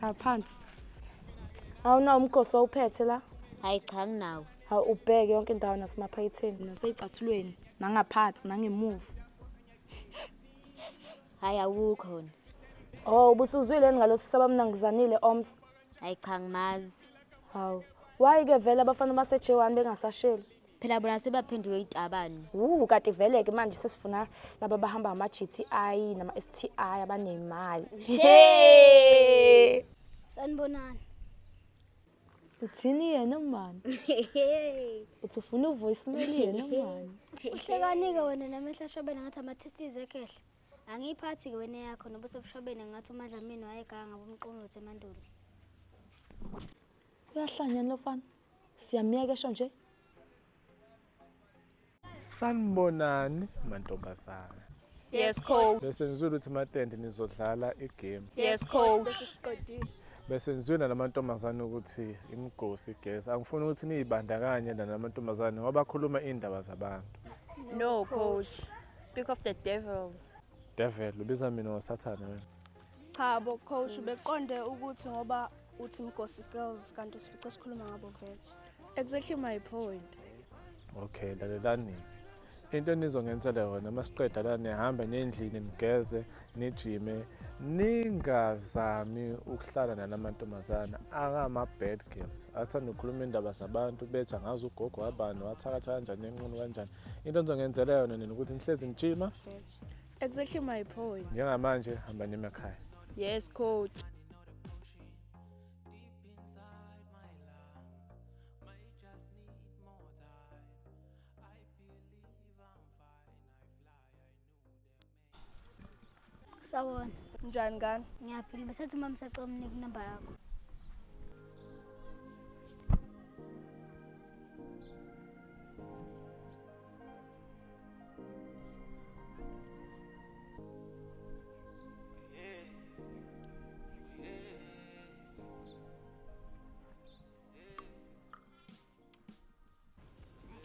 Hlala phansi. Awunawo umgoso owuphethe la? Hayi cha nginawo. Hawu ubheke yonke indawo nasemaphaketheni naseyicathulweni nangaphansi nangemuva. Hayi awukho wona. Oh, ubusuzwile yini ngalo sisi abamnanguzanile oms? Hayi cha ngimazi. Hawu. Why ke vele abafana base J1 bengasasheli? phela bona sebaphenduke itabani wu kati vele ke manje sesifuna laba bahamba ama GTI nama STI abanemali hey sanibonani uthini yena mani uthi ufuna uvoice mail yena mani uhlekani ke wena namehla shobena ngathi ama testes ekehle angiyiphathi ke wena yakho nobuso bushobene ngathi umadlamini wayeganga bomqongqothe emandulo uyahlanya lofana Siyamyeka esho nje. Sanibonani mantombazana. Yes coach. Bese ngizwe ukuthi matende nizodlala igame. Yes coach. Bese ngizwe namantombazane ukuthi imigosi igesi. Angifuni ukuthi niyibandakanye namantombazane ngoba khuluma indaba zabantu. No coach. Speak of the devils. Devil ubiza mina ngosathane wena. Cha bo coach beqonde ukuthi ngoba uthi mgosi girls kanti usifice sikhuluma ngabo vele. Exactly my point. Okay, lalelani. Into enizongenzela yona masiqeda la nihambe nendlini nigeze nijime ningazami ukuhlala nalamantombazana akama bad girls athanda ukukhuluma indaba zabantu betha ngazi ugogo wabani wathakatha kanjani enqunu kanjani into enizongenzela yona nina ukuthi nihlezi nijima Exactly my point. Njengamanje hamba nemakhaya. Yes coach. Sawona. Njani ngani? Ngiyaphila besathi mama sacela umnike inamba yakho.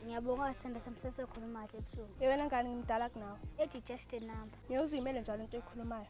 ngiyabonga wathanda samsese ekhuluma kahle ebusuku yewena ngani ngimdala kunawe ethi just a number ngiyoziyimele njalo into eyikhulumayo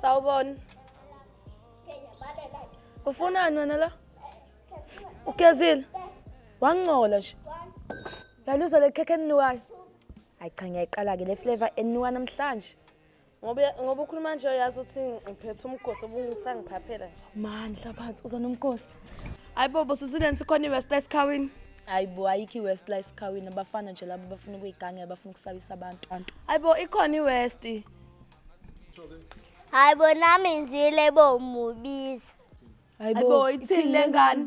Sawubona. Ufunani wena la? Ugezile. Wangcola nje. Yaluza le khekhe eninukayo. Hayi cha ngiyayiqala ke le flavor eninuka namhlanje. Ngoba ngoba ukhuluma nje uyazi ukuthi ngiphethe umgosi obungisangiphaphela nje. Man hlabathi uza nomkhosi. Hayibo bosuzuleni sikhona iWest Esikhawini. Hayibo ayikho iWest la esikhawini abafana nje labo bafuna ukuyigange bafuna ukusabisa abantu. Hayibo ikhona iWest. hayi bo nami ngizwile bo mubiza hayi bo ithini le ngane